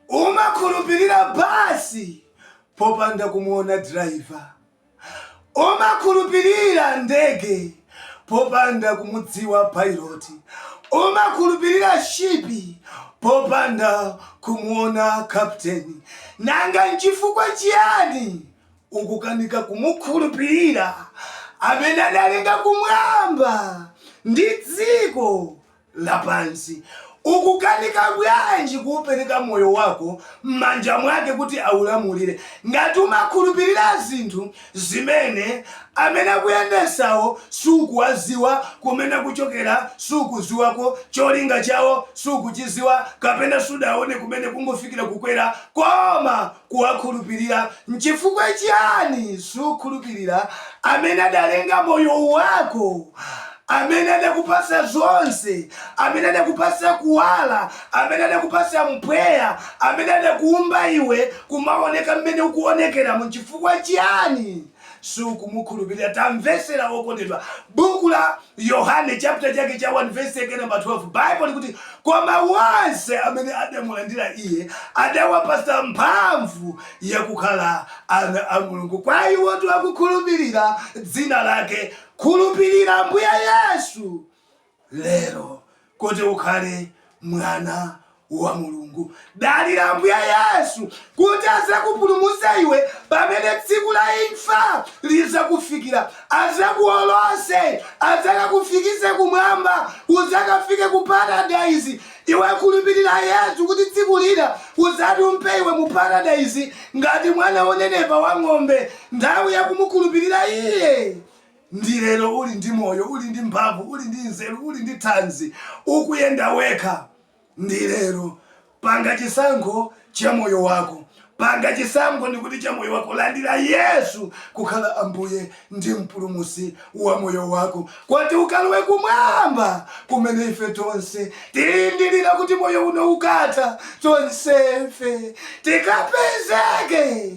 umakhulupirira basi popanda kumuona driver, umakhulupirira ndege popanda kumudziwa pilot, umakhulupirira ship popanda kumuona captain. Nanga nchifukwa chiyani ukukanika kumukhulupilira amene adalenga kumwamba ndi dziko lapansi. Ukukanika bwanji kuupereka moyo wako m'manja mwake kuti aulamulire ngati umakhulupirira zinthu zimene amene akuyendesawo sukuwaziwa kumene akuchokera sukuziwako cholinga chawo sukuchiziwa kapena sudawaone kumene kungofikira kukwera koma kuwakhulupirira? Nchifukwa chiyani sukhulupirira amene adalenga moyo wako, amene adakupatsa zonse, amene adakupatsa kuwala, amene adakupatsa mpweya, amene adakuumba iwe kumaoneka m'mene ukuonekeramo? Nchifukwa chiyani sukumukhulupirira. Tamvetsera, wokondedwa. Buku la Yohane, chapter chake cha 1, verse namba 12, Bible likuti, Koma wonse amene adamulandira iye, adawapasa mphamvu yakukhala ana a Mulungu. Kwa iwotu akukhulupirira dzina lake. Khulupirira Ambuye Yesu. lero kuti ukhale mwana wa Mulungu. Dalira Ambuye Yesu kuti azakupulumutse iwe pamene tsiku la imfa lizakufikira, azakuolose, azakakufikise kumwamba, uzakafike ku paradise. Iwe khulupirira Yesu kuti tsiku lina uzatumphe iwe mu paradise ngati mwana wonenepa wa ng'ombe. Nthawi yakumukhulupirira iye ndi lero uli ndi moyo, uli ndi mphamvu, uli ndi nzeru, uli ndi thanzi, ukuyenda wekha ndi lero. Panga chisankho cha moyo wako. Panga chisankho ndikuti cha moyo wako. Landira Yesu kukhala Ambuye ndi Mpulumutsi wa moyo wako kuti ukalowe kumwamba kumene ife tonse tilindirira kuti moyo uno ukatha tonsefe tikapezeke.